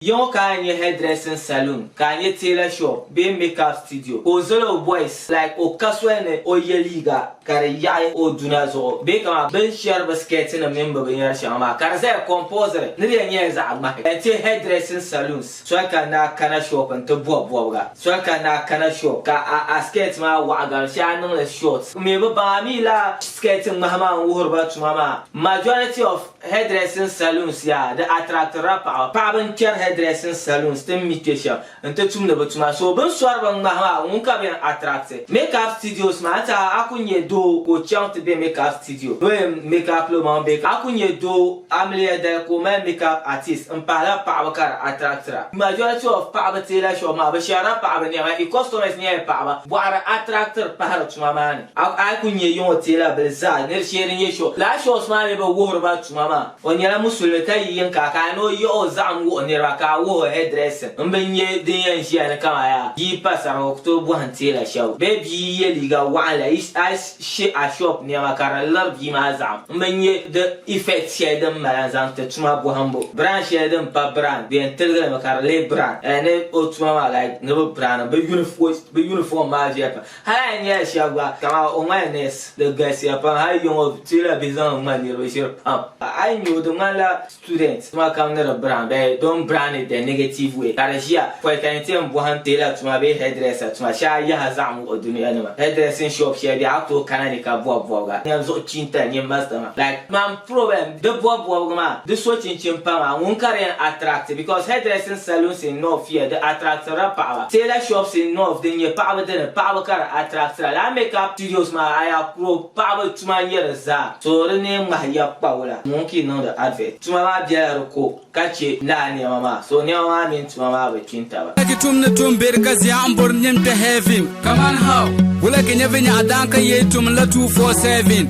Yi ŋɔ ka a nya hairdressing saloon, ka a nya tailor shop bee make-up studio, ka o zali o boys like o ka soli ni o ye liiga ka di yaɣi o duna zuɣu bee kaman bɛ ni shɛri bɛ skirtnim mini bɛ binyɛr shɛŋa maa ka di zaya compulsory ni di yɛn nyɛla zaɣ ŋmahi. N ti hairdressing saloons soli ka n daa kana shop nti bɔbi bɔbiga. Soli ka n daa kana shop ka a a skirt maa waɣa gari shee a niŋ li short. N mi bi baŋ a mi lala skirt ŋmahi maa n wuhiri ba tuma maa. Majority of. Hairdressing saloons yaa di attractirila paɣaba. Paɣaba n kpɛri hairdressing saloons ti ni mi kpɛ shɛm n ti tumdi bi tuma. So bini sɔri bin ŋmahi maa ŋun ka bi yɛn attracti. Makeup studios maa n ti a a ku nyɛ doo ka o chaŋ ti bɛ makeup studio ni o yɛn makeup lo maŋ bɛ a ku nyɛ doo amiliya dali ka o mali makeup artist n pahila paɣaba ka di attractira. Majority of paɣaba tailor shop maa bi shɛrila paɣaba nɛma i customers nyɛla paɣaba. Bɔɣiri attractiri pahiri tuma maa ni. A a ku nyɛ yiŋɔ teela bili zaa nir shee din nyɛ Sho. Lala Shos maa mi bi wuhiri ba tuma maa. O nyɛla musulimi ka yi yiŋ ka a kana ni o yiɣi o zaɣim wuhi niriba ka a wuhi o hairdressing m bi nyɛ din yɛn ʒiya ni kaman yaa yi yi pa sariga o ku tooi bɔhim teela shɛba bee bia yi yɛ liiga waɣinli yi a yi she a shop nɛma ka di liri bia maa zaɣim m bi nyɛ di effect shɛli din mali n zaŋ ti tuma bɔhimbu. Brand shɛli din pa brand bɛ yɛn tiligi li mi ka di lee brand eh ni o tuma maa like ni bi brand li bi uniform maa viɛli pam. Hali a ni nya shɛba gba, kaman o ŋmani nɛsi, di galisiya pam. Hali yiŋɔ teela bihi zaŋ ŋmani niriba ʒiri pam. A yi nya o, di ŋmanila student tuma kam ni di brown bee don't brown it the negative way ka di ʒiya pɔi ka yi ti yɛn bɔhim teela tuma bee hairdresser tuma shɛba yaha zaɣ muɣi dunia nima. Hairdressing shop shɛli bɛ a tooi kana ni ka bɔbi bɔbiga, nyan zuɣu chiinta nyin master maa like mam. Problem, Di bɔbi bɔbigu maa, di so chinchini paŋa, ŋun ka di yɛn attract because hairdressing saloons in north here di attractira paɣaba, tailor shops in north din nyɛ paɣaba dini paɣaba ka di attractira, lala makeup studios maa a yi a kuro paɣaba tuma n nyɛ di zaa. So di ni yɛn ŋmahi ya kpawula ŋun ki niŋdi advert tuma maa bela di ko ka che lala nɛma maa so nɛma maa mini tuma maa bi kpi n taba. Wula ki tum ni tum be di ka ziya n bori nim kpe heaven kaman how? Wula ki nyɛ vinyɛɣu daan ka yee tum n la two four seven?